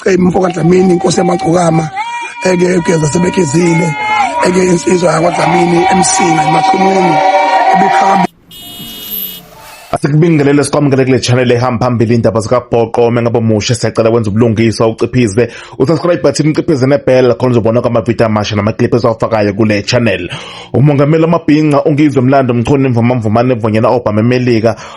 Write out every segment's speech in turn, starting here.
Cebe mfoka Dlamini inkosi yamagcokama eke egeza sebegezile eke insizwa yakwaDlamini emsinga emaqhumuni ebikhamba Asikubingelele sikwamukele kule channel ehamba phambili indaba zikabhoqo uma ngabe omusha siyacela wenza ubulungiswa uciphize usubscribe button uciphize nebell khona uzobona kwamavidiyo amasha namaclip esiwafakayo kule channel umongameli wamabhinca ungizwe mlando mchunu imvumamvumane evonyela obhama emelika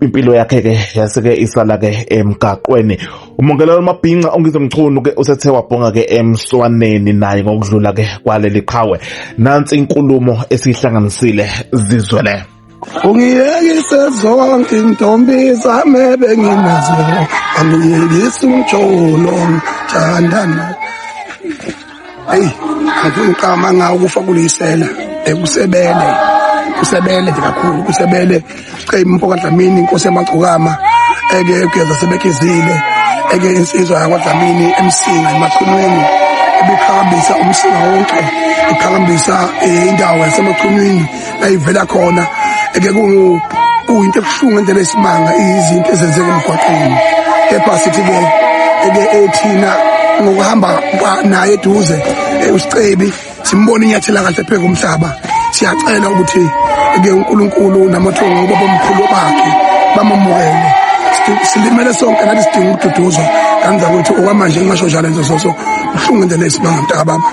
impilo yakhe ke yasike isala ke emgaqweni umongelelo mabhinca ongizwe mchunu ke usethe wabhonga ke emswaneni naye ngokudlula ke kwaleli qhawe nansi inkulumo esihlanganisile zizwele ungiyekise zonke intombi zami ebenginazo angiyekisi umjolo thandana eyi angifuni ngiqama ngawo ukufa kuliyisela ekusebele kusebele nje kakhulu kusebele cey mfo kadlamini inkosi yamagcokama eke kuyeza sebekizile eke insizwa yakwadlamini emsinga emachunwini ibiqhakambisa umsinga wonke iqhakambisa eh, indawo yasemachunwini ayivela khona eke kungu kuyinto ebuhlungu endlela esimanga izinto ezenzeka emgwaqeni kepha sithi ke eke ethina ngokuhamba naye eduze eh, usicebi simbona inyathela kahle phezulu umhlaba siyacela ukuthi ke uNkulunkulu namathongo ubaba omkhulu bakhe bamamukele silimele sonke nathi sidinga ukududuzwa kanza ukuthi okwamanje ngingasho njalo nje soso uhlungu indlela esibangamntaka baba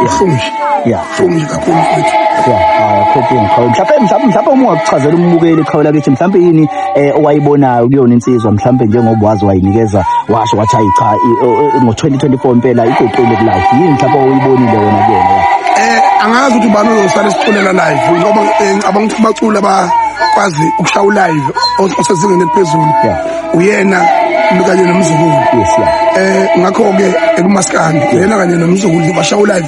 uhlungu nje yeah Jongi kakhulu mfethu. Ya, haya khophi ngikhawula. Mhlawumbe mhlawumbe mhlawumbe uma ungakuchazela umbukeli khawula kithi mhlawumbe yini eh, owayibonayo kuyona insizwa mhlawumbe njengoba wazi wayinikeza washo wathi hayi cha i- o- o- ngo-2024 impela iguqile kulayo. Yini mhlawumbe oyibonile wena kuyena? ya? Eh angazi ukuthi ubani uzosala isiculela live ngoba eh, ngicabanga ukuthi abaculi abakwazi ukushawu live os- osezingeni eliphezulu. Yeah. Uyena kanye nomzukulu. Yes, ya. Eh ngakho ke ekumaskandi uyena kanye nomzukulu bashawu live.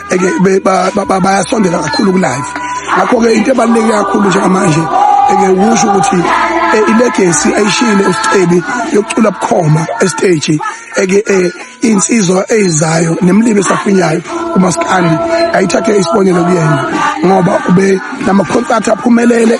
bayasondela kakhulu kulive ngakho-ke into ebaluleke kakhulu njengamanje eke kusho ukuthi eh, ilegesi ayishiyile usicebi yokucula bukhoma esiteji eke eh, insizwa eyizayo nemlimi esafinyayo umaskandi ayithathe isibonelo kuyena ngoba ube namakhonsathi aphumelele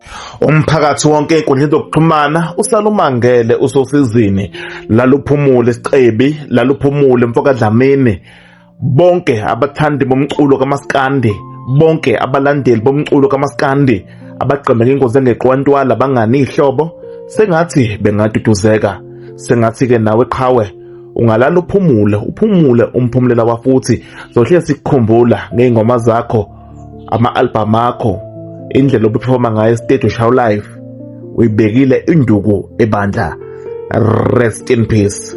Umphakathi wonke enkundleni zokuxhumana usalumangele usosizini laluphumule sicebi laluphumule mfokadlamini bonke abathandi bomculo kamaskandi bonke abalandeli bomculo kamaskandi abagqemeke ingozi engeqwantwala bangani ihlobo sengathi bengaduduzeka sengathi ke nawe qhawe ungalala uphumule uphumule umphumulela wafuthi zohlezi sikukhumbula ngey'ngoma zakho ama-albhamu akho indlela obephefoma ngayo esiteji ushaw life uyibekile induku ebandla rest in peace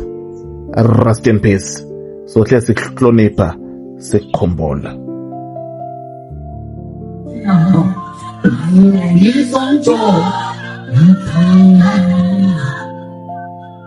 rest in peace sohle sikuhlonipha sikukhumbula Ngisonto, ngithanda